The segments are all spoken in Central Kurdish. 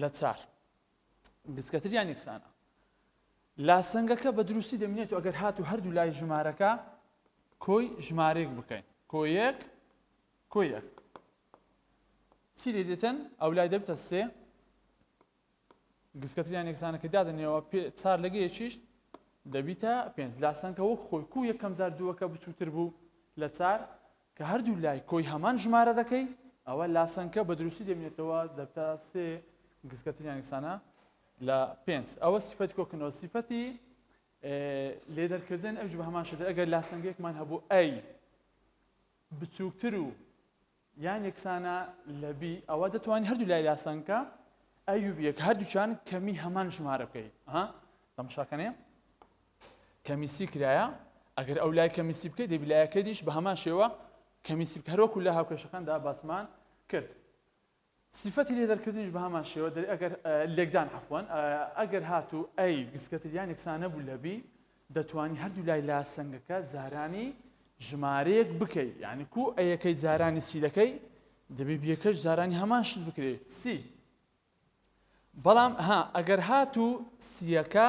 لە چار گچکەتر یان یەکسانە. لاسەنگەکە بە دروستی دەمینێت و ئەگەر هاتو هەردوو لای ژمارەکە کۆی ژمارەیەک بکەین کۆ یەک کۆ یەک چی لێ دێتن ئەو لای دەبتە سێ گسکەتریان یەکسانەکە دادنێەوە چار لەگەیەکیش دەبیتە پێنج لاسەنکە وەک خۆی کو یەکەم جار دووەکە بچووتر بوو لە چار کە هەردوو لای کۆی هەمان ژمارە دەکەی ئەوا لاسەنکە بە دروستی دەبینێتەوە دەبتە سێ گسکە تریان یەکسانە لە پێنج ئەوە سیفەتی کۆکردنەوە سیفەتی لێدەرکردن ئەوج بە هەمان شێدە ئەگەر لاسەنگێکمان هەبوو ئەی بچووکتر و یان یەکسانە لە بی ئەوە دەتوانین هەردوو لای لاسەنکە ئەیوبیەک هەردووچان کەمی هەمان ژمارە بکەیت ها تەمشاکەنێ کەمیسی کرایە ئەگەر ئەو لای کەمیسی بکەیت دەبی لایەکە دیش بە هەمان شێوە کەمیسی هەرۆکو لە هاوکێشەکاندا باسمان کرد سیفەتی لێ دەرکردنیش بە هەمان شێوە دەر ئەگەر لێکدان عفوان ئەگەر هاتوو ئەی گسکەتریان یەکسانە بوو لەبی دەتوانی هەردوو لای لا سنگەکە زارانی ژمارەیەک بکەیت یعنی کو ئەیەکەی زارانی سیلەکەی دەبێ بیەکەش زارانی هەمان شت بکرێت سی بەڵام ها ئەگەر هاتوو سیەکە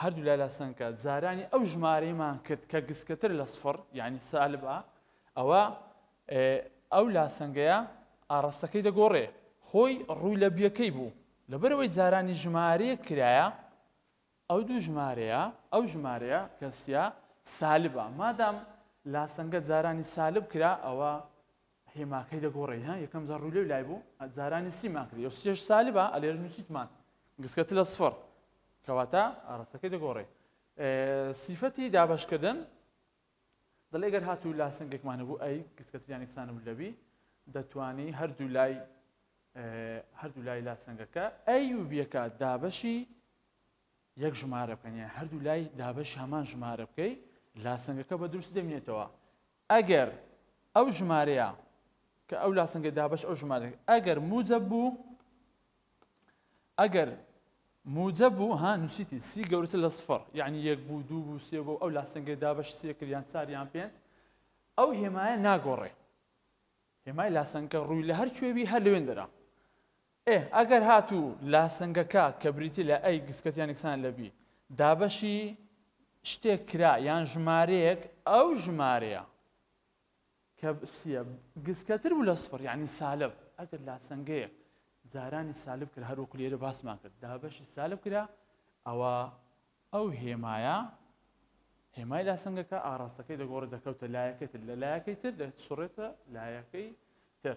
هەردوو لای لاسەنگکە جارانی ئەو ژمارەیمان کرد کە گسکەتر لە سفڕ یعنی سالبە ئەوە ئەو لاسەنگەیە ئاڕاستەکەی دەگۆڕێ خۆی ڕووی لە بیەکەی بوو لەبەرەوەی جارانی ژمارەیە کرایە ئەو دوو ژمارەیە ئەو ژمارەیە کەسیە سالبە مادام لاسەنگە جارانی سالب کرا ئەوە هێما کەی دەگۆڕێی ها یەکەم جار ڕووی لێو لای بوو جارانی سیمان کردی یۆ سێش سالبە ئەلێر نووسیتمان گسکە تلە سفڕ کەواتە ئاراستەکەی دەگۆڕێ سیفەتی دابەشکردن دەڵێ گەر هاتوو لا سنگێکمان هەبوو ئەی گسکەتریان یەکسان بوو لەبی دەتوانی هەردوو لای هەردوو لای لا سنگەکە ئەی و بیەکە دابەشی یەک ژمارە بکەنیە هەردوو لای دابەش هەمان ژمارە بکەی لا سنگەکە بە دروست دەمێتەوە ئەگەر ئەو ژمارەیە کە ئەو لاسەنگە دابەش ئەو ژمارە ئەگەر موجە بوو ئەگەر موجە بوو ها نووسیتی سی گەورتر لە سفر یعنی یەک بوو دوو بوو سێ بوو ئەو لاسەنگە دابەش سێ کریان ساریان پێنج ئەو هێمایە ناگۆڕێ هێمای لاسەنگە ڕووی لە هەر کوێبی هەر لەوێن دەرا ئێ ئەگەر هاتوو لاسنگەکە کە بریتی لە ئەی گسکەت یان یەکسانە لە بی دابەشی شتێک کرا یان ژمارەیەک ئەو ژمارەیە کە سیە گسکەتر بوو لە سفر یعنی سالب ئەگەر لاسەنگەیە جارانی سالب کرد هەروەکو لێرە باسمان کرد دابەشی سالب کرا ئەوە ئەو هێمایە هێمای لاسەنگەکە ئاراستەکەی دەگۆڕێت دەکەوتە لایەکەی تر لە لایەکەی تر دەسوڕێتە لایەکەی تر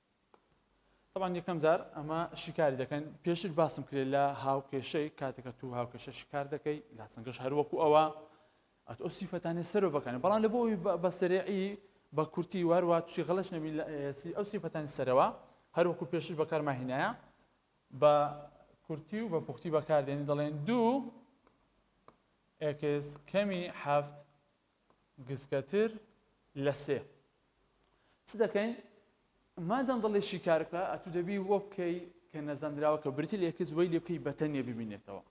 تەبان یەکەم جار ئەمە شیکاری دەکەن پێشتر باسم کرێت لە هاوکێشەی کاتەکە تو هاوکێشە شکار دەکەی لا سنگەش هەروەکو ئەوە ئەت ئەو سیفەتانی سەرۆ بەکەن بەڵام لە بۆی بە سەرێعی بە کورتی واروا توی غڵش نەبی ئەو سیفەتانی سەرەوە هەروەکو پێشتر بەکارما هینایە بە کورتی و بە پوختی بەکاردێنی دەڵێن دوو ئێکس کەمی هەفت گسکەتر لە سێ. چ دەکەین؟ مادەم دەڵێ شیکار بکە، ئەتوو دەبی وە بکەی کە نەزانراوە کە برتی لە ئێکس وەی لێ بکەی بە تەنێ ببینێتەوە.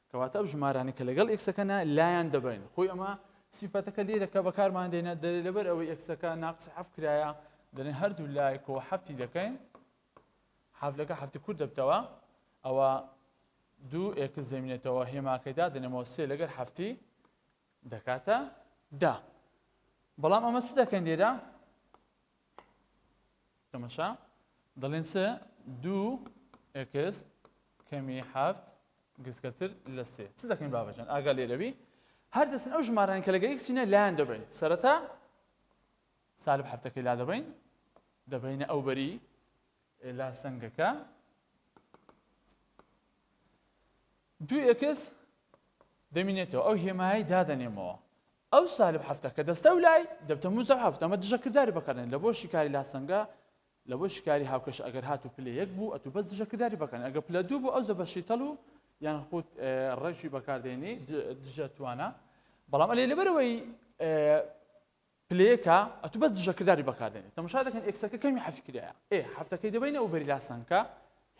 کەواتە ئەو ژمارانە کە لەگەڵ ئێکسەکەنا لایان دەبەین. خۆی ئەمە سیفەتەکە لێرە کە بەکارمان دێنە دەرێ لەبەر ئەوەی ئێکسەکە ناقسی حەفت کرایە دەڵێن هەردوو لایەکەوە حەفتی دەکەین حەفلەکە حەفتی کورت دەبتەوە ئەوە دوو ئێکس دەمینێتەوە هێماکەی دادەنێمەوە سێ لەگەر حەفتی دەکاتە دا بەڵام ئەمە چ دەکەین لێرە تەمەشا دەڵێن چ دوو ئەکس کەمی هەفت گسکەتر لە سێ چ دەکەین بابەجان ئاگا لێرەوی هەر دەستن ئەو ژماران کە لەگەر یەکچینە لایەن دەبین سەرەتا سالب هەفتەکەی لا دەبین دەبینە ئەو بەری لاسەنگەکە دوو ئێکس دەمینێتەوە ئەو هێمایی دادەنێمەوە ئەو سالب هەفتە کە دەستە و لای دەبتە موزە هەفتە ئەمە دژەکردداری بەکەن لە بۆ شیکاری لاسەنگە لە بۆ شیکاری هاوکەش ئەگەر هات و پلە یەک بوو ئەتو بەس دژەکردداری بەکەن ئەگە پلە دوو بۆ ئەو زە بەشیتەڵ و یان خودت ڕێکی بەکاردێنی دژە توانە بەڵام ئەلێ لەبەرەوەی پلەیەکە ئەتو بەس دژە کرداری بەکار دێنێ تەمەشا دەکەن ئێکسەکە کەمی حەزفی کرایە ئێ حەفتەکەی دەبەینە ئەو بەری لاسانکە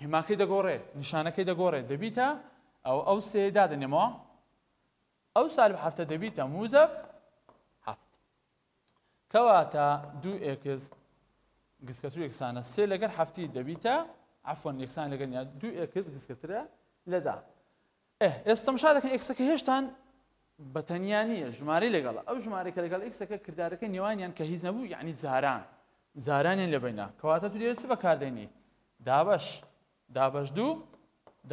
هێماکەی دەگۆڕێ نیشانەکەی دەگۆڕێ دەبیتە ئەو ئەو سێ دادەنێمەوە ئەو سالب حەفتە دەبیتە موزەب حەفت کەواتە دوو ئێکس گسکەتر یەکسانە سێ لەگەر حەفتی دەبیتە عفۆن یەکسان لەگەنیا دوو ئێکس گسکەترە لەدا ئه ئێستا تەمشا دەکەن ئێکسەکە هێشتان بە تەنیا نییە ژمارەی لەگەڵە ئەو ژمارەی کە لەگەڵ ئێکسەکە کردارەکە نێوانیان کە هیچ نەبوو یعنی جاران جارانیان لە بەینا کەواتە تو لێرە چ بەکاردێنی دابەش دابەش دوو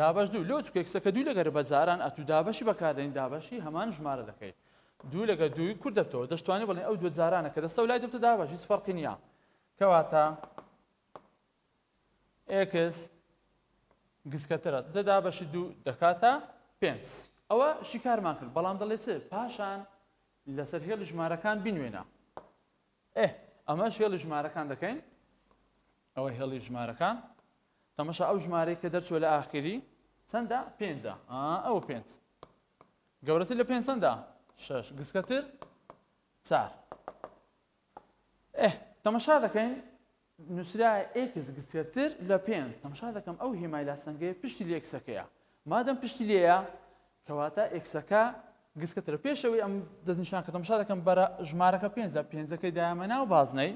دابەش دوو لۆ چکێکسەکە دوو لەگەر بە جاران ئەتو دابەشی بەکاردێنی دابەشی هەمان ژمارە دەکەیت دوو لەگە دووی کورد دەبتەوە دەشتوانێت بڵێ ئەو دوو جارانە کە دەستە لای دەبتە دابەش هیچ فەرقی نییە کەواتە ئێکس گسکەترە دە دابەشی دوو دەکاتە پێنج ئەوە شیکارمان کرد بەڵام دەڵێ چ پاشان لەسەر هێڵ ژمارەکان بینوێنە ئێ ئەمەش هێڵ ژمارەکان دەکەین ئەوە هێڵی ژمارەکان تەمەشا ئەو ژمارەی کە دەرچوە لە ئاخری چەندە پێنجە ئەوە پێنج گەورەتر لە پێنج چەندە شش گسکەتر چار ئه تەمەشا دەکەین نوسرایە ئێکس گسترتر لە پێنج تەمەشا دەکەم ئەو هێمای لاسەنگەیە پشتی لە ئێکسەکەیە مادەم پشتی لێیە کەواتە ئێکسەکە گسکەترە پێشەوەی ئەم دەستنیشان کە تەمەشا دەکەم بەرە ژمارەکە پێنجە پێنجەکەی دایمە ناو بازنەی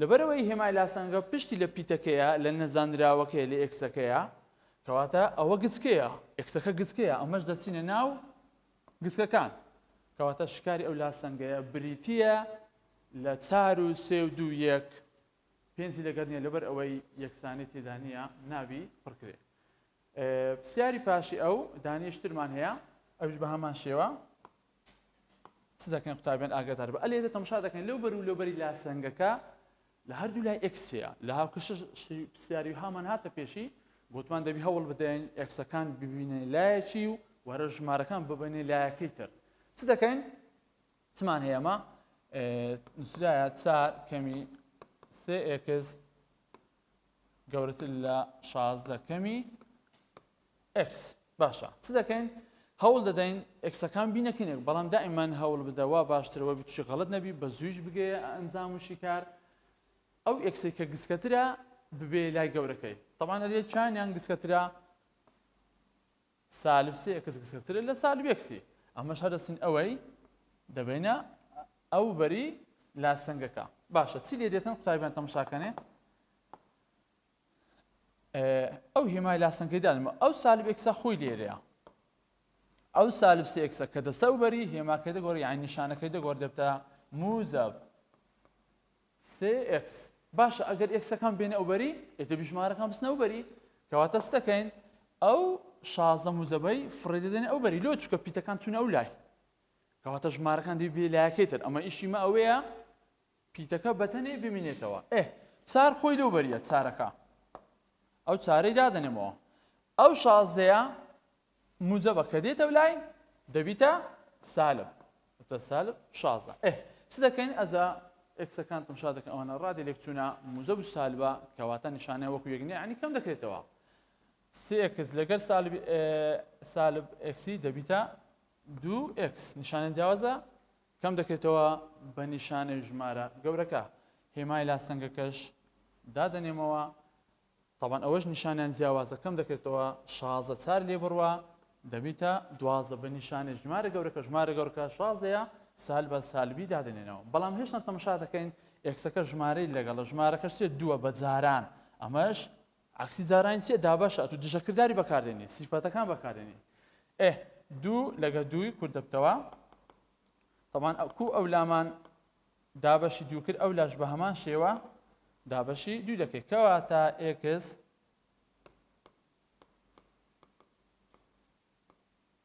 لەبەرەوەی هێمای لاسەنگە پشتی لە پیتەکەیە لە نەزانراوەکەی لە ئێکسەکەیە کەواتە ئەوە گچکەیە ئێکسەکە گچکەیە ئەمەش دەچینە ناو گسکەکان، کەواتە شکاری ئەو لاسەنگەیە بریتییە لە چار و سێ و دوو یەک، پێنجی لەگەر نییە لەبەر ئەوەی یەکسانی تێدا نییە ناوی پڕکرێ. پرسیاری پاشی ئەو دانیشترمان هەیە ئەوش بە هەمان شێوە چ دەکەین قوتابیان ئاگادار بە ئەلێرە تەمشا دەکەین لەو بەر و لەوبەری لاسەنگەکە لە هەردوو لای ئێکس هەیە لە هاوکەشەش شتی پرسیاری هامان هاتە پێشی گوتمان دەبی هەوڵ بدەین ئێکسەکان ببینە لایەکی و وەرە ژمارەکان ببینێ لایەکەی تر چ دەکەین چمان هەیە ئەمە نووسرایە چار کەمی سێ ئێکس گەورەتر لە شازدە کەمی ئێکس. باشە چ دەکەین؟ هەوڵ دەدەین ئێکسەکان بینەکەین یەک، بەڵام دائیمەن هەوڵبدە وا باشترە وەبی تووشی غەڵەت نەبی، بەزوویش بگەیە ئەنجام و شیکار. ئەو ئێکسەی کە گچکەترە ببەیە لای گەورەکەی. تەبعەن ئەرێ چانیان گچکەترە؟ سالب سێ ئێکس گچکەترە لە سالب ئێکسی. ئەمەش هەر دەستین ئەوەی دەبەینە ئەو بەری لاسەنگەکە. باشە چی لێ دێتن قوتابیان تەمشاکەنێ؟ ئەو هێمای لاسەنگەی دانم ئەو سالب ئێکسا خۆی لێرەیە ئەو سالب سێ ئێکسە کە دەستە و بەری هێماکەی دەگۆڕ یان نیشانەکەی دەگۆڕ دەبتە موزەب سێ ئێکس باشە ئەگەر ئێکسەکان بێنە ئەو بەری ئێتە بژمارەکان بستنە و بەری کەواتە ستەکەین ئەو شازدە موزەبەی فڕێ دەدەن ئەو بەری لۆ چکە پیتەکان چون ئەو لای کەواتە ژمارەکان دی بێ لایەکەی تر ئەمە ئیشی مە ئەوەیە پیتەکە بەتەنێ بمینێتەوە ئه چار خۆی لەو بەریە چارەکە ئەو چارەی دادەنێمەوە ئەو شازدەیە موجەبە کە دێتە لای دەبیتە سالب تە سالب شازدە ئه چ دەکەین ئەزا ئەکسەکان تمشا دەکەن ئەوانە ڕادێ لێکچوونە موزەب سالبە کەواتە نیشانە وەکو یەکنێ عنی کەم دەکرێتەوە سێکس لەگەر سالب سالب ئەکسی دەبیتە دوو ئەکس نیشانە جیاوازە کەم دەکرێتەوە بە نیشانەی ژمارە گەورەکە هێمای لا سەنگەکەش دادەنێمەوە تەبەن ئەوەش نیشانیان جیاوازە کەم دەکرێتەوە شازە چار لێ بڕوە دەبیتە دوازە بە نیشانە ژمارە گەورەکە ژمارە گەورکە شازەیە سال بە سالبی دادنێنەوە بەڵام هێشتا تەمشا دەکەین ئێکسەکە ژمارەی لەگەڵە ژمارەکەشێ دووە بە جاران ئەمەش عەکسی جارانی چیە دابەشە ئەتو دژە کرداری بەکاردێنی سیفەتەکان بەکاردێنی ئێ دوو لەگە دووی کورت دەبتەوە طبعا کو ئەو لامان دابەشی دوو کرد ئەو لاش بە هەمان شێوە دابەشی دوو دەکەی کەواتە ئێکس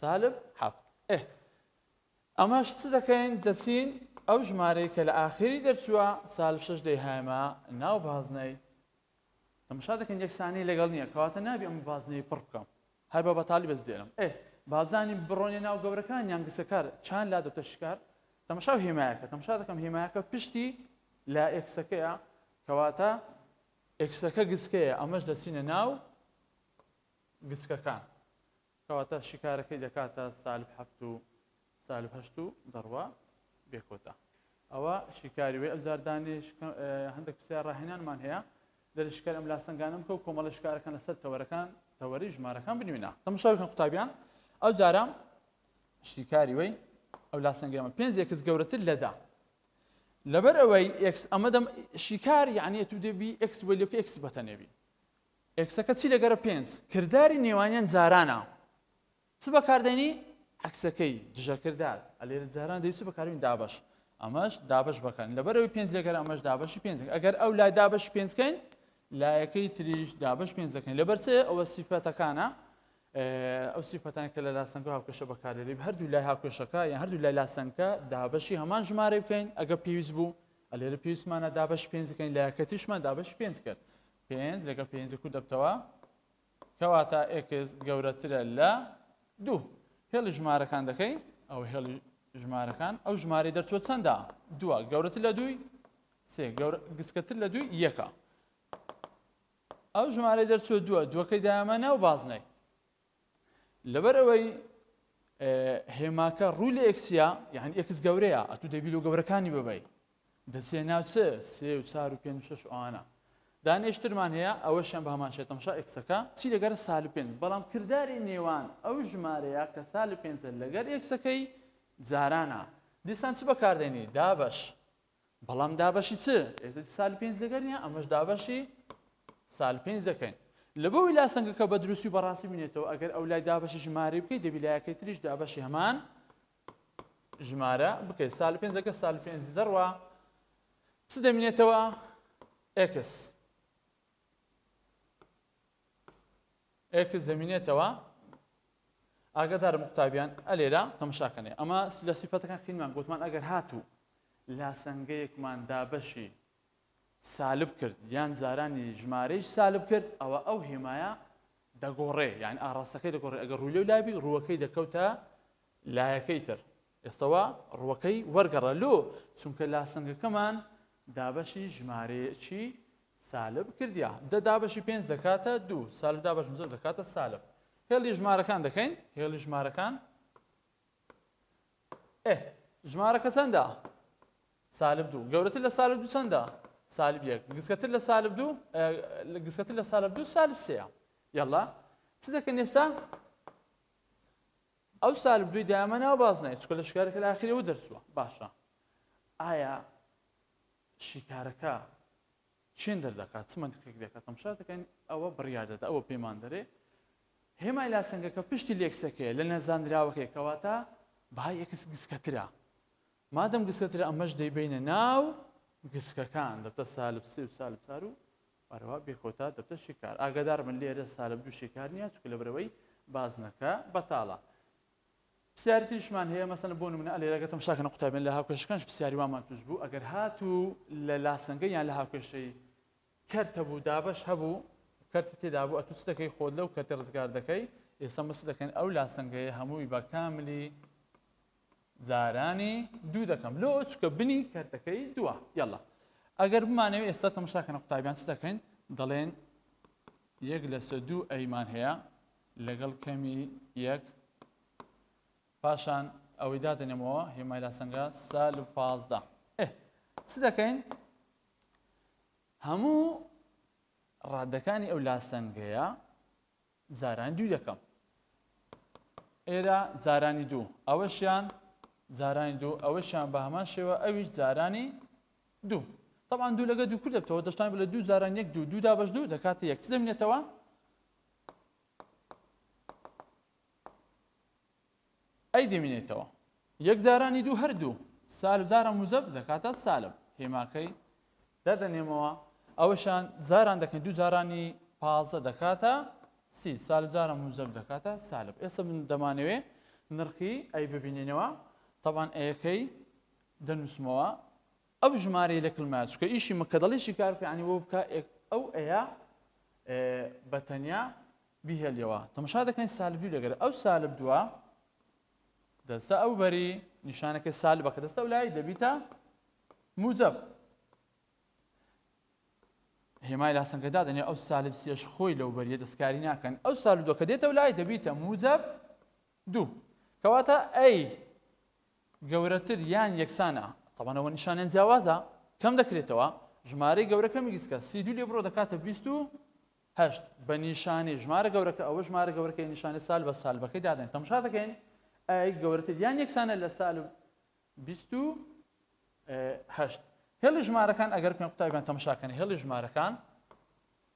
سالب حەفت ئه ئەمەش چ دەکەین دەچین ئەو ژمارەی کە لە ئاخیری دەرچووە سالب شەش دەیهایمە ناو بازنەی تەمەشا دەکەین یەکسانی لەگەڵ نییە کەواتە نابی ئەم بازنەی پڕ بکەم هەر بە بەتالی بەس دێنم ئه بابزانی بڕۆنیە ناو گەورەکان یان گسەکار چان لا دەتە شکار تەمەشا و هێمایەکە تەمەشا دەکەم هێمایەکە پشتی لە ئێکسەکەیە کەواتە ئێکسەکە گسکەیە ئەمەش دەچینە ناو گچکەکان کەواتە شیکارەکەی دەکاتە سالب هەفت و سالب هەشت و دەڕوا بێ کۆتا ئەوە شیکاری وێ ئەوجار دانێش هەندێک پرسیار ڕاهێنانمان هەیە دەری شکار ئەم لاسەنگانم کە و کۆمەڵە شکارەکان لەسەر تەوەرەکان تەوەری ژمارەکان بنوێنە تەمشاوکەن قوتابیان ئەو جارە شیکاری وەی ئەو لاسەنگەمە پێنج یەکس گەورەتر لەدا لەبەر ئەوەی ئکس ئەمەدەم شیکار یعنی تو دەبی ئکس وەلیۆک ئکس بەتەنێبی ئێکسەکە چی لەگەرە پێنج. کرداری نێوانیان جارانە چ بەکاردێنی؟ عەکسەکەی، دژەکردار، ە لێرە جاران دەبی چ بەکاربێنی؟ دابەش. ئەمەش دابەش بەکارین لەبەرئەوەی پێنج لەگەرە ئەمەش دابەشی پێنج دەکەین ئەگەر ئەو لای دابەشی پێنج کەین لایەکەی تریش دابەش پێنج دەکەین لەبەر چێ ئەوە سیفەتەکانە ئەو سیفەتان کە لە لاسەنگە هاوکێشە بەکاردێنی هەردوو لای هاوکێشەکە یان هەردوو لای لاسەنگە دابەشی هەمان ژمارە بکەین ئەگە پێویست بوو ئەلێرە پێویستمانە دابەش پێنج دەکەین لایەکە تریشمان دابەش پێنج کرد پێنج لەگەڵ پێنج کوو دەبتەوە کەواتە ئێکس گەورەترە لە دوو هێڵی ژمارەکان دەکەی ئەو هێڵی ژمارەکان ئەو ژمارەی دەرچوە چەندە دووە گەورەتر لە دووی سێ گسکەتر لە دووی یەکە ئەو ژمارەی دەرچوە دووە دووەکەی دامەنە و بازنەی لەبەر ئەوەی هێماکە ڕووی لە ئێکسیا یعنی ئێکس گەورەیە ئەتو دەبی لۆ گەورەکانی ببەی دەسێ ناوچە سێ و چار و پێنج شش ئەوانە دانێشترمان هەیە ئەوەشیان بە هەمان شێتەمشا ئێکسەکە چی لەگەر سال پێنج بەڵام کردداری نێوان ئەو ژمارەیە کە سال پێنجە لەگەر ئێکسەکەی جارانە دیسان چ بەکاردێنی دابش بەڵام دابەشی چ ئێستا سال پێنج لەگەر نیە ئەمەش دابەشی سال پێنج دەکەین لەبەوەی لا سنگەکە بە دروستی و بەڕاستی بینێتەوە ئەگەر ئەو لای دابەشی ژمارەی بکەیت دەبی لایەکەی تریش دابەشی هەمان ژمارە بکەیت سال پێنج لەگە سال پێنج دەڕوە چ دەمینێتەوە ئێکس ئێکس دەمینێتەوە ئاگادارم قوتابیان ئەلێرا تەمشاکەنێ ئەمە لە سیفەتەکان خینمان گوتمان ئەگەر هاتوو لاسەنگەیەکمان دابەشی سالب کرد یان جارانی ژمارەیش سالب کرد ئەوە ئەو هێمایە دەگۆڕێ یان ئاڕاستەکەی دەگۆڕێ ئەگەر ڕوولێ و لابی ڕووەکەی دەکەوتە لایەکەی تر ئێستەوە ڕووەکەی وەرگەڕە لۆ چونکە لاسەنگەکەمان دابەشی ژمارەیەکی سالب کردیە دە دابەشی پێنج دەکاتە دوو سالب دابەشم زۆر دەکاتە سالب هێڵی ژمارەکان دەکەین هێڵی ژمارەکان ئێ ژمارەکە چەندە سالب دوو گەورەتر لە سالب دوو چەندە سالب یەک گسکەتر لە سالب دوو گسکەتر لە سالب دوو سالب سەیە یاڵا چ دەکەن ئێستا ئەو سالب دوی دامە ناو بازنای چکە لە شکارەکە لە ئاخیرەوە دەرچووە باشە ئایا شیکارەکە چێن دەردەکات، چ مەنتقێک دەکات، تەمشا دەکەین، ئەوە بڕیار دەدات، ئەوە پێمان دەرێ هێمای لاسەنگەکە پشتی لێکسەکەیە لە نەزانراوەکەی، کەواتە بەهای ئێکس گسکەترە، مادەم گسکەترە ئەمەش دەیبەینە ناو گسکەکان، دەبتە سالب سێ و سالب چار و ئەروا بێ کۆتا دەبتە شیکار، ئاگادار بن لێرە سالب دوو شیکار نییە، چونکە لەبەرەوەی بازنەکە بەتاڵە. پرسیاری تریشمان هەیە مەسەلەن بۆ نمونە ئەلێرە گەر تەمشا کەنە قوتابیان لە هاوکێشەکانش پرسیاری وامان توش بوو ئەگەر هاتوو لە لاسەنگە یان لە هاوکێشەی کەرت هەبوو دابەش هەبوو کەرتی تێدا بوو ئەتوو چ دەکەی خۆت لەو کەرتە ڕزگار دەکەی ئێستا مەس دەکەن ئەو لاسەنگەیە هەمووی بە کاملی جارانی دوو دەکەم لۆ چکە بنی کەرتەکەی دووە یاڵا ئەگەر بمانەوە ئێستا تەمشا کەنە قوتابیان چ دەکەین دەڵێن یەک لەسە دوو ئەیمان هەیە لەگەڵ کەمی یەک پاشان ئەوەی دادەنێمەوە هێمای لاسەنگە سال و پازدە ئێ چ دەکەین هەموو ڕادەکانی ئەو لاسەنگەیە جاران دوو دەکەم ئێرە جارانی دوو ئەوەشیان جارانی دوو ئەوەشیان بە هەمان شێوە ئەویش جارانی دوو طبعا دوو لەگە دوو کردێتەوە دەشتان لە دوو جاران یەک دوو دوودا بەش دوو دەکاتە یەک دەمێتەوە ئەی دەمینێتەوە یەک جارانی دوو هەر دوو سالب جارە موزەب دەکاتە سالب هێماکەی دەدەنێمەوە ئەوەشان جاران دەکەن دوو جارانی پازدە دەکاتە سی سالب جارە موزەب دەکاتە سالب ئێستا من دەمانەوێ نرخی ئەی ببینینەوە طبعا ئەیەکەی دەنووسمەوە ئەو ژمارەی لە کلمە چکە ئیشی مە کە دەڵی شی کار پێیانی بۆ بکە ئەو ئەیە بە تەنیا بیهێلیەوە تەمەشا دەکەین سالب دوو دەگەر ئەو سالب دووە دەستە ئەو بەری نیشانەکە سالبە کە دەستە لای دەبیتە موجب هێمای لاسەنگەدا دەنێ ئەو سالب سێش خۆی لەو بەریە دەستکاری ناکەن ئەو سالب دوکە دێتە لای دەبیتە موجب دوو. کەواتە A گەورەتر یان یەکسانە، تەبەن ئەوە نیشانیان جیاوازە، کەم دەکرێتەوە، ژمارەی گەورە کەمی گچکە، سی دوو لێ بڕۆ دەکاتە بیست و هەشت، بە نیشانەی ژمارە گەورەکە، ئەوە ژمارە گەورەکەیە نیشانەی سالب بە سالبەکەی دادەنێت، تەمشا دەکەین A گەورەتر یان یەکسانە لە سالب بیست و هەشت. هێڵی ژمارەکان ئەگەر پێم قوتابیان تەمشا کەن هێڵی ژمارەکان،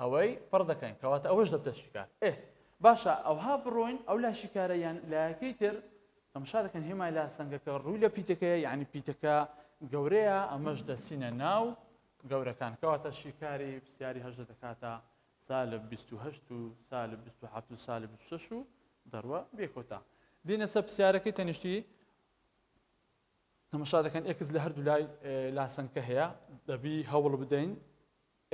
ئەوەی پڕ دەکەین کەواتە ئەوەش دەبتە شیکار ئێ باشە ئەوها بڕۆین ئەو لا شیکارە یان لایەکەی تر تەمشا دەکەن هێمای لا سنگەکە ڕووی لە پیتەکەیە یعنی پیتەکە گەورەیە ئەمەش دەسینە ناو گەورەکان کەواتە شیکاری پرسیاری هەژدە دەکاتە سالب 28 و سالب 27 و سالب 26 و دەڕوە بێکۆتا دینە سە پرسیارەکەی تەنیشتی تەمەشا دەکەن ئێکس لە هەردوو لای لاسەنکە هەیە دەبی هەوڵ بدەین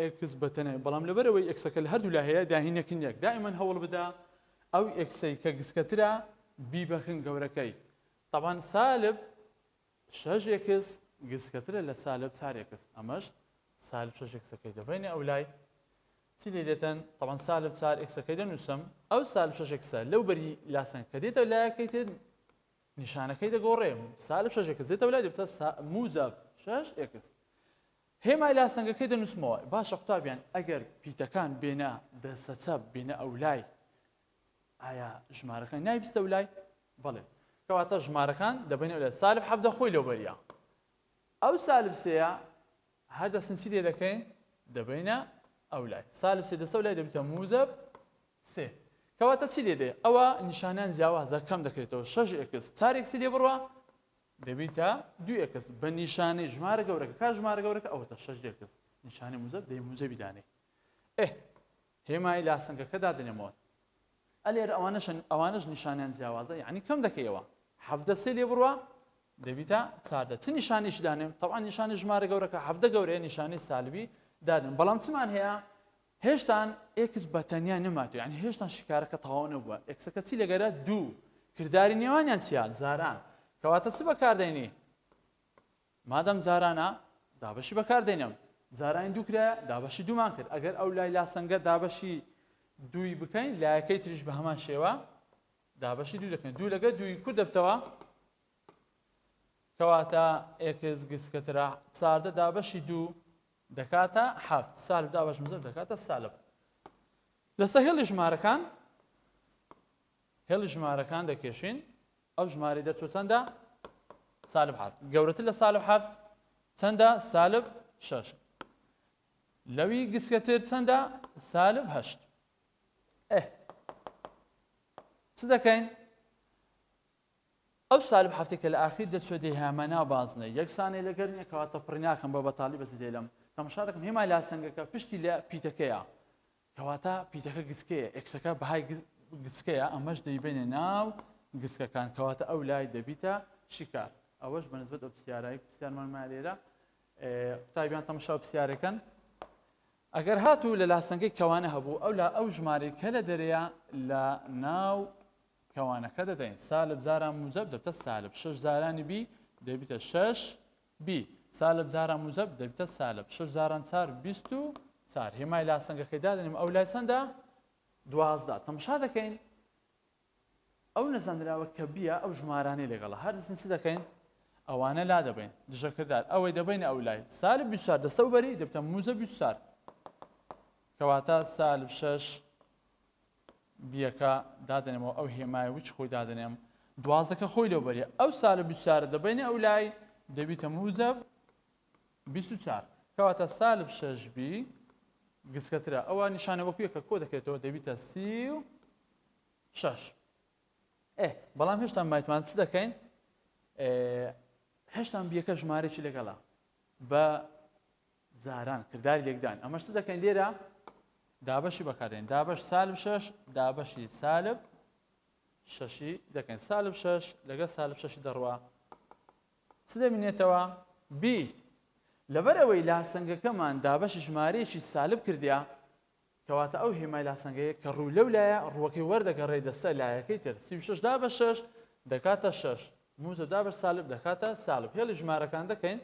ئێکس بەتە ناوی بەڵام لەبەرئەوەی ئێکسەکە لە هەردوولا هەیە داهینەکن یەک دائیمەن هەوڵبدە ئەو ئێکسەی کە گسکەترە بیبەکن گەورەکەی تەبان سالب شەش ئێکس گسکەترە لە سالب چار ئێکس ئەمەش سالب شەش ئێکسەکەی دەبەینە ئەو لای چی لێ دێتەن تەبان سالب چار ئێکسەکەی دەنووسم ئەو سالب شەش ئێکسە لەو بەری لاسەن کە دێتە لایەکەی تر نیشانەکەی دەگۆڕێ سالب شەش ئێکس دێتەوە لای دەبتە موجب شەش ئێکس هێمای لاسەنگەکەی دەنووسمەوە. باشە قوتابیان ئەگەر پیتەکان بێنە دەستەچە بێنە ئەولای ئایا ژمارەکان نایبستە لای بەڵێ کەواتە ژمارەکان دەبێنە لە سالب حەفدە خۆی لەو بەریا ئەو سالب سەیە هەر دەستنچی لێ دەکەین دەبینە ئەو لای سالب سێ دەستە لای دەبیتە موزب سێ کەواتە چی لێ دێ ئەوە نیشانیان جیاوازە کەم دەکرێتەوە شش ئکس چارێکسی لێ بڕە دەبی تا دوو ئێکس بە نیشانەی ژمارە گەورەکە کا ژمارە گەورەکە ئەوەتە شەش ئێکس نیشانەی موزەب دەی موزەبی دانێ ئێ هێمای لاسەنگەکە دادنێمەوە ئەلێر ئەوانەشن ئەوانش نیشانیان جیاوازە یعنی کەم دەکەیەوە حەفدە سێ لێ بڕوە دەبیتە چاردە چ نیشانیش دانێم تەوان نیشانی ژمارە گەورەکە حەفدە گەورەیە نیشانی سالبی دادن بەڵام چمان هەیە هێشتان ئێکس بە تەنیا نەماتوە یانی هێشتان شیکارەکە تەواو نەبووە ئێکسەکە چی دەگەرە دوو کرداری نێوانیان چیا جاران کەواتە چ بەکاردێنی مادەم جارانە دابەشی بەکاردێنم جارانی دوو کرایە دابەشی دوومان کرد ئەگەر ئەو لای لاسەنگە دابەشی دووی بکەین لایەکەی تریش بە هەمان شێوە دابەشی دوو دەکەن دوو لەگە دووی کورد دەبتەوە کەواتە ئێکس گسکەترا چاردە دابەشی دوو دەکاتە حەفت سالب دا بەش مزر دەکاتە سالب لەسە هێڵی ژمارەکان هێڵی ژمارەکان دەکێشین ئەو ژماری دەچۆ چەندە سالب حەفت گەورەتر لە سالب حەفت چەندە سالب شش لەوی گسکەتر چەندە سالب هەشت ئه چ دەکەین ئەو سالب هەفتەی کە لە ئاخیر دەچووە دێ هەمە ناو بازنەی، یەکسانەی لەگەر نییە کەواتە پڕی ناکەم بە بەتاڵی بەس دێلم تەمشا دەکەم هێمای لاسەنگەکە پشتی لە پیتەکەیە کەواتە پیتەکە گچکەیە ئێکسەکە بەهای گچکەیە ئەمەش دەیبەینە ناو گچکەکان کەواتە ئەو لای دەبیتە شیکار ئەوەش بەنسبەت ئەو پرسیارای پرسیارمان مالێرە قوتابیان تەمشا پرسیارەکەن ئەگەر هاتوو لە لاسەنگەی کەوانە هەبوو ئەو لا ئەو ژمارەی کە لە دەرەیە لە ناو کەوانەکە دەدەین سالب جاران موجب دەبتە سالب شش جارانی بی دەبیتە شش بی سالب جاران موجب دەبتە سالب شش جاران چار بیست و چار هێمای لاسەنگەکەی دادەنیم ئەو لای چەندە دوازدە تەمشا دەکەین ئەو نەزانراوە کە بیە ئەو ژمارانەی لەگەڵە هەر دەستین چ دەکەین ئەوانە لا دەبین دژەکردار ئەوەی دەبین ئەو لای سالب بیسار دەستە و بەری دەبتە موزە بیسار کەواتە سالب شش بیەکە دادەنێمەوە ئەو هێمای وچ خۆی دادەنێم دوازەکە خۆی لەو بەری ئەو سا لە بیسارە دەبینە ئەو لای دەبیتە موزە بیسار کەواتە سالب شەش بی گسکەترە ئەوە نیشانە وەکوێکە کۆ دەکرێتەوە دەبیتە سی و شەش ئێ بەڵام هێشتا مایتمان چ دەکەین هێشتان بیەکە ژمارەی لەگەڵە بە جاران کرداری لێکدان ئەمەش چ دەکەین لێرە دابەشی بەکارێن دابش سالب شش دابشی سالب ششی دەکەین سالب شش لەگە سالب ششی دەڕوە چ دەمینێتەوە بی لەبەر ئەوەی لاسەنگەکەمان دابەشی ژمارەیەکی سالب کردیا کەواتە ئەو هێمای لاسەنگەیە کە ڕوو لەو لایە ڕووەکەی وەردەگەڕێ دەستە لایەکەی تر سی شش دا بە شش دەکاتە شش موزە دا بە سالب دەکاتە سالب هێڵی ژمارەکان دەکەین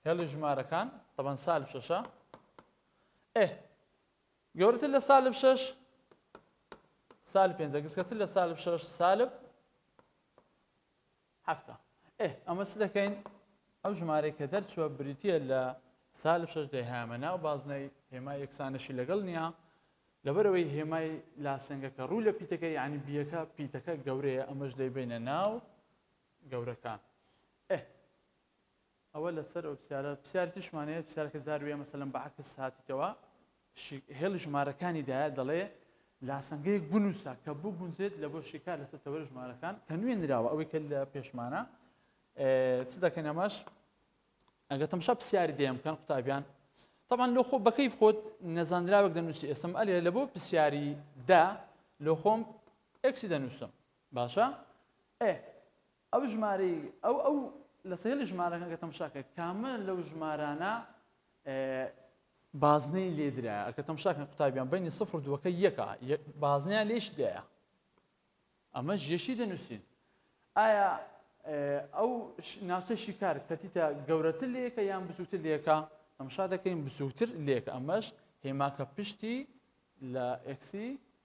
هێڵی ژمارەکان تەبەن سالب شەشە ئێ گەورەتر لە سالب شەش سالب پێنجە گسکەتر لە سالب شەش سالب هەفتە ئێ ئەمە چ دەکەین ئەو ژمارەی کە دەرچووە بریتە لە سالب شەش دەهامە ناو بازنەی هێما یەکسانەشی لەگەڵ نییە لەبەرەوەی هێمای لاسەنگەکە ڕوو لە پیتەکە یعنی بیەکە پیتەکە گەورەیە ئەمەش دەیبینە ناو گەورەکان ئه ئەوە لەسەر ئەو پسیارە پسیار تریشمان هەیە پسیارکە جار وێ مەسەلەن بەعکس هاتیتەوە شی هێڵی ژمارەکانی دایە دەڵێ لاسەنگەیەک بنووسە کە بگونجێت لە بۆ شیکار لەسەر تەوەر ژمارەکان کە نوێ نراوە ئەوەی کە لە پێشمانە چ دەکەن ئەمەش ئەگە تەمشا پرسیاری دێم بکەن قوتابیان طبعا لۆ خۆ بەکەیف خۆت نەزانراوێک دەنووسی ئێسم ئەلێ لە بۆ پرسیاری دا لۆ خۆم ئەکسی دەنووسم باشە ئێ ئەو ژمارەی ئەو ئەو لە سەیری ژمارەکان کە تەمشاکە کامە لەو ژمارانە بازنەی لێدرایە ئەکە تەمشاکەن قوتابیان بینی سفر دووەکە یەکە بازنیان لێش دایە ئەمە ژێشی دەنووسین ئایا ئەو ناوچە شیکار کەتیتە گەورەتر لەکە یان بزووتر لەکە ئەمشا دەکەین بزووتر لێک ئەمەش هێماکە پشتی لە ئەکسی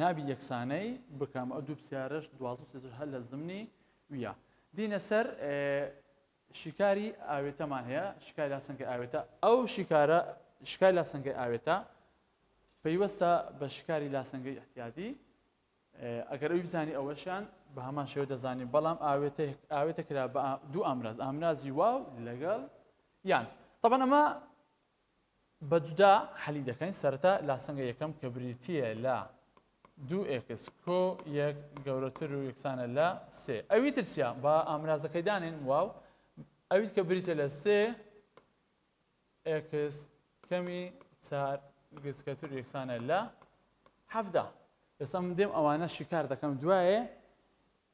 نابی یەکسانەی بکەم ئەو دوو پسیارەش دوازدە سێزر هەر لە زمنی ویە دینە سەر شیکاری ئاوێتەمان هەیە شکای لا سنگی ئاوێتە ئەو شیکارە شکای لا سنگی ئاوێتە پەیوەستە بە شکاری لاسەنگەی احتیادی ئەگەر ئەوی بزانانی ئەوەشیان بە هەمان شێوە دەزانین بەڵام ئاوێتە ئاوێتە کرا بە دوو ئامراز ئامرازی واو لەگەڵ یان طبعا ئەمە بە جودا حەلی دەکەین سەرەتا لاسەنگە یەکەم کە بریتییە لە دوو ئێکس کۆ یەک گەورەتر و یەکسانە لە سێ ئەوی ترسیا با ئامرازەکەی دانێن واو ئەویت کە بریتە لە سێ ئێکس کەمی چار گچکەتر یەکسانە لە حەفدا ئێستا من دێم ئەوانە شیکار دەکەم دوایێ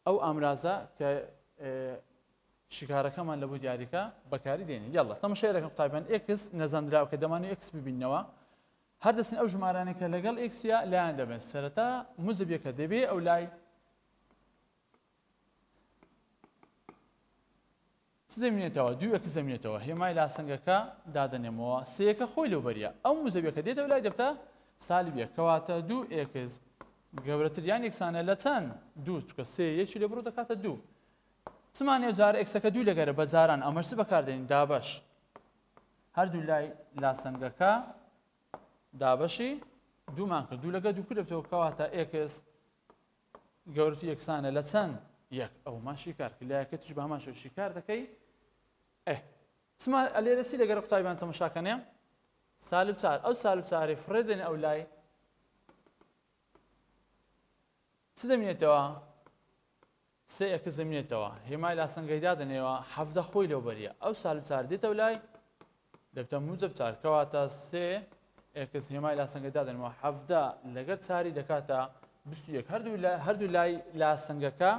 ئەو ئامرازە کە شیکارەکەمان لە بۆ دیاریکە بەکاری دێنین یاڵە تەمەشێرەکە قوتابیان ئێکس نەزانراو کە دەمانوی ئێکس ببینەوە هەر دەستن ئەو ژمارانێک کە لەگەڵ ئێکسیا لایەن دەبێت سەرەتا مجبیەکە دەبێ ئەو لای چ زەمینێتەوە دوو ئێکس زەمینێتەوە هێمای لاسەنگەکە دادەنێمەوە سێیەکە خۆی لەو بەریە ئەو موجەبیەکە دێتەوە لای دەبتە سالب یەک کەواتە دوو ئێکس گەورەتر یان یەکسانە لە چەند دوو چکە سێ یەکی لێ بڕۆ دەکاتە دوو چمانێ جار ئێکسەکە دوو لەگەرە بە جاران ئەمەش بەکاردێنین دابش هەردوو لای لاسەنگەکە دابشی دوومان کرد دوو لەگە دوو کردەوە کەواتە ئێکس گەورەتی یەکسانە لە چەند یەک ئەو ما شیکار کرد لایەکەتیش بە هەمان شێوە شیکار دەکەی ئێ چما لێرە چی لەگەر قوتابیان تەمەشاکەنێ سالب چار ئەو سالب چارێ فڕێ دێن ئەو لای چ دەمێتەوە سێ ئەکە زمێتەوە هێمای لاسەنگەیدا دەنێەوە حەفدە خۆی لەو بەریە ئەو سالب چار دێتەوە لای دەبتە موجەب چار کەواتە سێ ئێکس هێمای لاسەنگە دادەنێم و حەڤدە لەگەر چاری دەکاتە بیست و یەک هەردوو لای لاسەنگەکە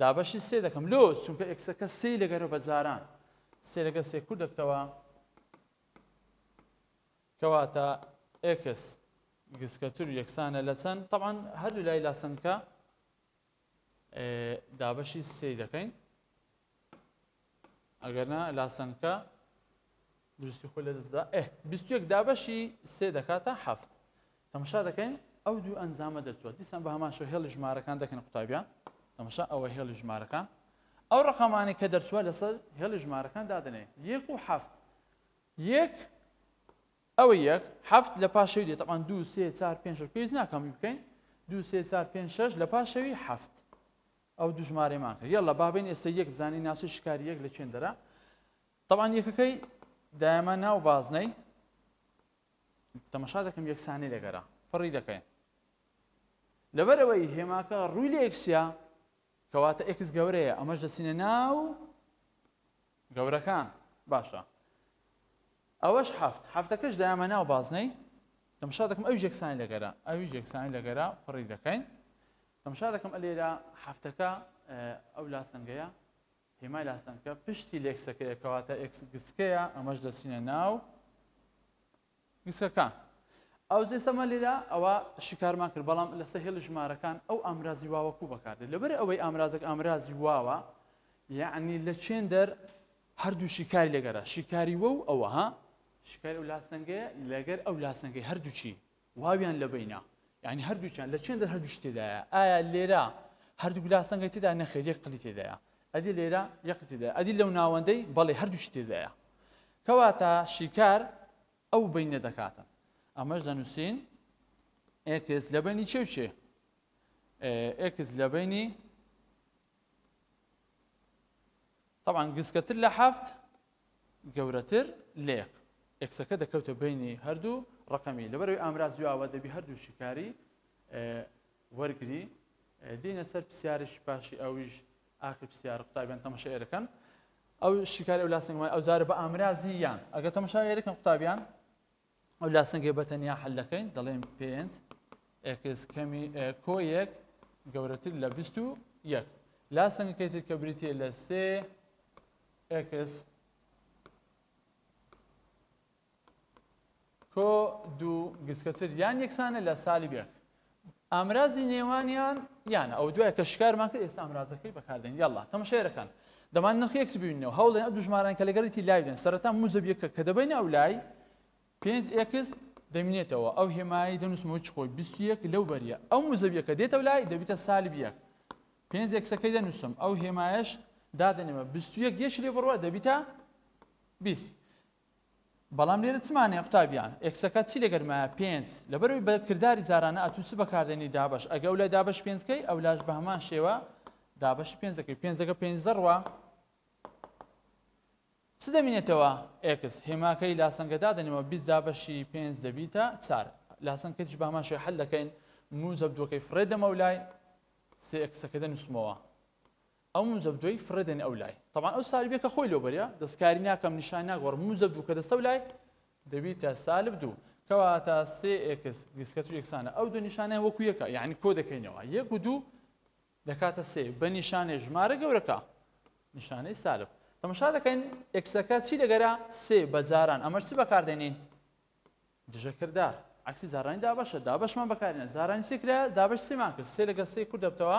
دابەشی سێ دەکەم لۆ چونکە ئێکسەکە سێی لەگەرە بە جاران سێ لەگە سێ کورد دەبتەوە کەواتە ئێکس گسکەتر یەکسانە لە چەند تەوان هەردوو لای لاسەنگەکە دابەشی سێی دەکەین ئەگەرنا لاسەنکە دروستی خۆی لە دەستدا ئێ بیستێک دابەشی سێ دەکاتە هەفت تەمەشا دەکەین ئەو دوو ئەنجامە دەچوە دیسان بە هەماشە هێڵی ژمارەکان دەکەن قوتابیان تەمەشا ئەوە هێڵی ژمارەکان ئەو ڕقەمانی کە دەرچوە لەسەر هێڵی ژمارەکان دادنێ یەک و هەفت یەک ئەوە یەک، حەفت لە پاش شەوی دێت تەبعەن دوو سێ چار پێنج شەش پێویست ناکا هەمووی بکەین دوو سێ چار پێنج شەش لە پاش شەوی حەفت ئەو دوو ژمارەیەمان کرد یەڵا با بێین ئێستا یەک بزانین ناسۆی شکاری یەک لە چێن دەرا تەبعەن یەکەکەی دایەمە ناو بازنەی تەمەشا دەکەم یەکسانی لەگەرا فڕی دەکەین لەبەر ئەوەی هێماکە ڕووی لە ئێکسیا کەواتە ئێکس گەورەیە ئەمەش دەچینە ناو گەورەکان باشە ئەوەش حەفت حەفتەکەش دایمە ناو بازنەی تەمشا دەکەم ئەویش یەکسانی لەگەرا ئەویش یەکسانی لەگەرا پڕی دەکەین تەمشا دەکەم ئە لێرە حەفتەکە ئەو لاسەنگەیە هێمای لاسەنگەکە پشتی لێکسەکەیە کەواتە ئێکس گچکەیە ئەمەش دەچینە ناو گسکەکان ئەو زێسەمە لێرە ئەوە شیکارمان کرد بەڵام لە سەهێڵی ژمارەکان ئەو ئامرازی واوەکو بەکاردێت لەبەر ئەوەی ئامرازێک ئامرازی واوە یعنی لە چێن دەر هەردوو شیکاری لەگەرە شیکاری وە و ئەوە ها شیکاری ئەو لاسەنگەیە لەگەر ئەو لاسەنگەی هەردووچی واویان لە بینە یعنی هەردووچیان لە چێن دەر هەردوو تێدایە ئایا لێرە هەردوو لاسەنگەی تێدا نەخێریەک قلی تێدایە ئەدی لێرە یەقتیدا ئەدی لەو ناوەندەی بەڵێ هەردوو تێدایە کەواتە شیکار ئەو بەینە دەکاتە. ئەمەش دەنووسین ئێکس لە بەینی چێ و چێ؟ ئێکس لە بەینی طبعا گسکەتر لە حەفت گەورەتر لێک ئێکسەکە دەکەوتە بینی هەردوو ڕقەمی لەبەروی ئامراز دواوە دەبی هەردوو شکاری وەرگری دینە سەر پرسیارش باشی ئەویش ئاکە پرسیار قوتابیان تەمەشە ئێرەکەن ئەو شیکاری ئەو لاسنگمای ئەو جارە بە ئامرازی یان ئەگەر تەمەشا یەکەم قوتابیان ئەو لاسنگێ بە تەنیا حل دەکەین دەڵێن پێنج ئێکس کەمی کۆ یەک گەورەتر لە بیست و یەک لاسنگەکەی تر کە بریتە لە سێ ئێکس کۆ دوو گسکە تر یان یەکسانە لە سالی بێرت ئامرازی نێوانیان یانە ئەو دوای کە شکارمان کرد ئێستا ئامرازەکەی بەکاردێن یاڵا تەمەشێرەکان دەمان نرخی یەکس ببینەوە هەوڵێن ئەو دوژماران کە لەگەڵیتی لایدێن سەرەتا موزەب یەکە کە دەبین ئەو لای پێنج ئێکس دەمینێتەوە ئەو هێمایی دەنووسمەوە چ خۆی بیست یەک لەو بەریە ئەو موزەبیەکە دێتە لای دەبیتە سالب یەک پێنج ئێکسەکەی دەنووسم ئەو هێمایش دادەنێمە بیست یەک یەش لێ بڕوە دەبیتە بیست بەڵام لێرە چ مانایە قوتابیان؟ ئێکسەکە چی لەگەر مایە؟ پێنج. لەبەرئەوەی بە کرداری جارانە ئەتوو چ بەکاردێنی دابەش ئەگە ئەولای دابەشی پێنج کەی ئەولاش بە هەمان شێوە دابەشی پێنج دەکەی پێنجەکە پێنج زەڕوە چ دەمینێتەوە ئێکس هێماکەی لاسەنگە دادەنێمەوە بیست دابەشی پێنج دەبیتە چار لاسەنکەش بە هەمان شێوە حل دەکەین موزەب دووەکەی فڕێ دەمەولای سێ ئێکسەکە دەنووسمەوە ئەو مزەبدوەی فڕێ دەنێ ئەو لای تەبان ئەو سالبیە کە خۆی لۆ بەریا دەستکاری ناکەم نیشان ناگۆڕم مزەبدو کە دەستەو لای دەبیتە سالب دوو کەواتە سێ ئێکس گسکەچ یەکسانە ئەو دوو نیشانیان وەکو یەکە یعنی کۆ دەکەینەوە یەک و دوو دەکاتە سێ بە نیشانەی ژمارە گەورەکە نیشانەی سالب تەمەشا دەکەین ئێکسەکە چی دەگەرا سێ بە جاران ئەمەش چی بەکاردێنین دژەکردار عکسی جارانی دابەشە دابشمان بەکارێنە جارانی سێکرا دابش سێمان کرد سێ لەگە سێ کورد دەبتەوە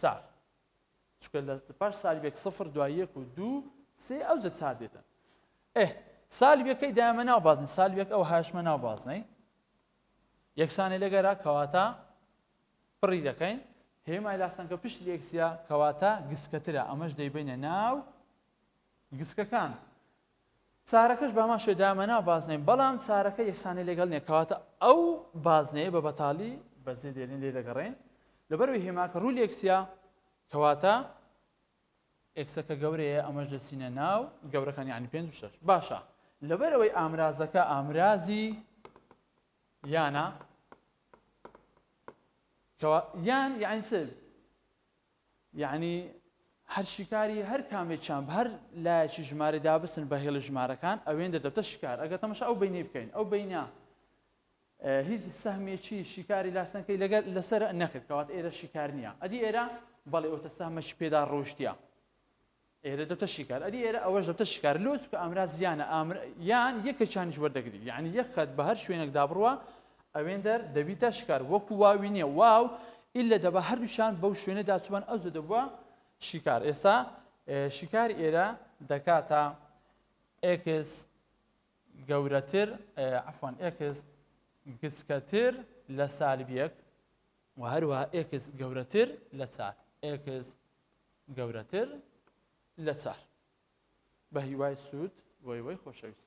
چار چونکە لە پاش سالبێک سفر دوای یەک و دوو سێ ئەوجە چار دێتن ئێ سالبەکەی دامە ناو بازن سالبێک ئەو هاشمە ناو بازنەی یەکسانی لەگەرا کەواتە پڕی دەکەین هێمای لاستەنکە پشت لێکسیا کەواتە گسکەترە ئەمەش دەیبینە ناو گسکەکان چارەکەش بەهەمان شێوە دایانمە ناو بازنەی بەڵام چارەکە یەکسانی لەگەڵ نیە کەواتە ئەو بازنەیە بە بەتاڵی بەجێ دێلین لێ دەگەڕێین لەبەروی هێما کە ڕووی ئێکسیا کەواتە ئێکسەکە گەورەیە ئەمەش دەچینە ناو گەورەکان یعنی پێنج و شەش باشە لەبەر ئەوەی ئامرازەکە ئامرازی یانە کەوا یان یعنی چ یەعنی هەر شیکاری هەر کامێکیان بە هەر لایەکی ژمارە دابسن بە هێڵی ژمارەکان ئەوێن دەدەتە شیکار ئەگەر تەمەشا ئەو بینەی بکەین ئەو بینە هیچ سەهمێکی شیکاری لاسەنکەی لەگەر لەسەر نەکرد کەوات ئێرە شیکار نییە ئەدی ئێرە بەڵێ ئەوتە سەهمەش پێدا ڕۆشتە ئێرە دەبتە شیکار ئەدی ئێرە ئەوەش دەبتە شیکار لۆ چکە ئامراز یانە ئامر یان یەکە چانیش وەردەگری یعنی یەک خەت بە هەر شوێنێک دابڕوە ئەوێندەر دەبیتە شکار وەکو واوی نییە واو ئللا دەبا هەردووشان بەو شوێنە داچوبان ئەو زە دەبووە شیکار ئێستا شیکاری ئێرە دەکاتە ئێکس گەورەتر عفوان ئێکس گچکەتر لە سالب یەک وە هەروەها ئێکس گەورەتر لە چار ئێکس گەورەتر لە چار بە هیوای سوود بۆی وەی خۆشەویست